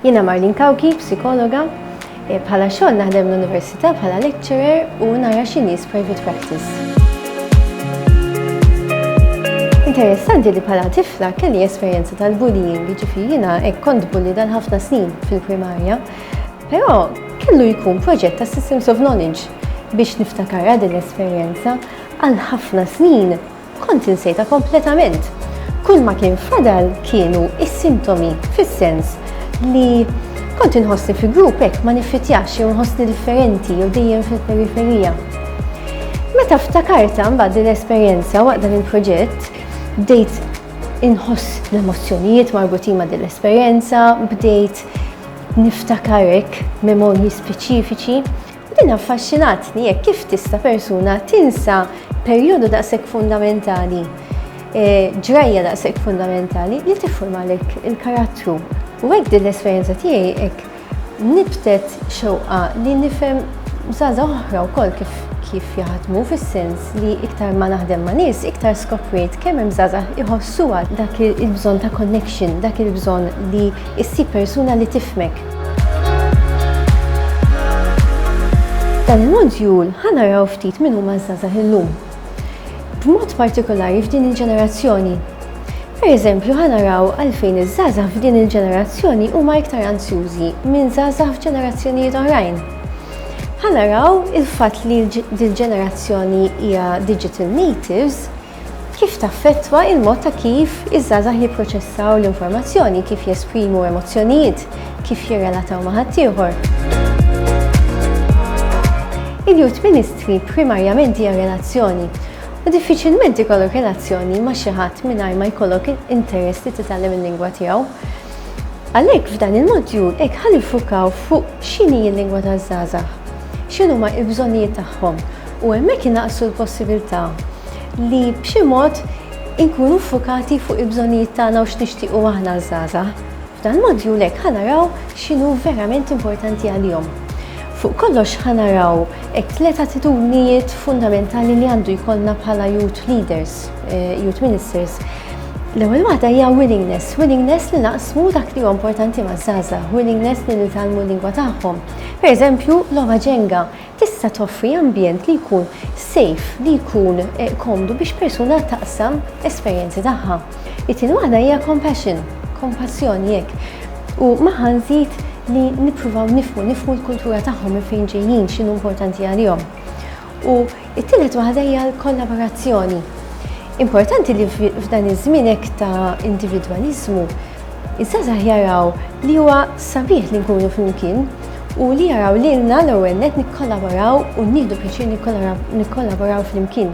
Jiena Marlene Cauchi, psikologa. Bħala xogħol naħdem l-università bħala lecturer u nara xi nies private practice. Interessanti li bħala tifla kelli esperjenza tal-bullying, ġifieri jiena hekk kont bulli dan ħafna snin fil-primarja. Però kellu jkun proġett ta' Systems of Knowledge biex niftakarha din l-esperjenza għal ħafna snin Kont insejta kompletament. Kull ma kien fadal kienu is-sintomi fis-sens li kont inħossni fi grupp hekk ma niffitjax jew nħossni differenti jew dejjem fil-periferija. Meta ftakarta mbagħad din l-esperjenza waqt dan il-proġett, bdejt inħoss l-emozzjonijiet marbutin ma' din l-esperjenza, bdejt niftakarek memorji speċifiċi Din affaxxinatni jekk kif tista' persuna tinsa perjodu daqshekk fundamentali, eh, ġrajja daqshekk fundamentali li tiffurmalek il-karattru. U hekk din l-esperjenza tiegħi hekk nibtet xewqa li nifhem żgħażagħ oħra wkoll kif kif jaħdmu fis-sens li iktar ma naħdem ma' nies iktar skoprejt kemm hemm żgħażagħ iħossuha dak il-bżonn ta' connection, dak il-bżonn li ssib persuna li tifhmek. Dan il-modjul ħanaraw ftit minn huma żgħażagħ illum. B'mod partikolari f'din il-ġenerazzjoni. Per eżempju, ħanaraw għalfejn iż-żgħażagħ f'din il-ġenerazzjoni huma iktar ansjużi minn żgħażagħ f'ġenerazzjonijiet oħrajn. Ħanaraw il-fatt li l-ġenerazzjoni hija digital natives Kif taffettwa il-mod ta' kif iż-żgħażagħ jipproċessaw l-informazzjoni, kif jesprimu emozzjonijiet, kif jirrelataw ma' ħaddieħor? Il-Youth Ministry primarjament hija relazzjoni, u diffiċilment ikollok relazzjoni ma' xi ħadd mingħajr ma jkollok interess li titgħallem il-lingwa tiegħu. Għalhekk f'dan il-modjul hekk ħa niffukaw fuq x'inhi l-lingwa taż-żgħażagħ, x'inhuma l-bżonnijiet tagħhom, u hemmhekk inaqqsu l-possibilità li b'xi mod inkunu ffukati fuq il-bżonnijiet tagħna u x'nixtiequ aħna ż-żgħażagħ. F'dan l-modjul hekk ħa naraw x'inhu verament importanti għalihom. Fuq kollox ħa naraw it-tliet attitudnijiet fundamentali li għandu jkollna bħala youth leaders, eh, youth ministers. L-ewwel waħda hija willingness, willingness li naqsmu dak li huwa importanti maż-żgħażagħ, willingness li nitgħallmu l-lingwa tagħhom. Pereżempju, logħba ġenga, Tista' toffri ambjent li jkun safe, li jkun komdu biex persuna taqsam esperjenzi tagħha. It-tieni waħda hija compassion, kompassjoni hekk. U magħha nżid li nippruvaw nifhmu, nifhmu l-kultura tagħhom minn fejn ġejjin, x'inhu importanti għalihom. U t-tielet waħda hija l-kollaborazzjoni. Importanti li f'dan iż-żmien hekk ta' individwaliżmu, iż-żgħażagħ jaraw li huwa sabiħ li nkunu flimkien, u li jaraw lilna l-ewwel net nikkollaboraw u nieħdu pjaċir nikkollaboraw flimkien.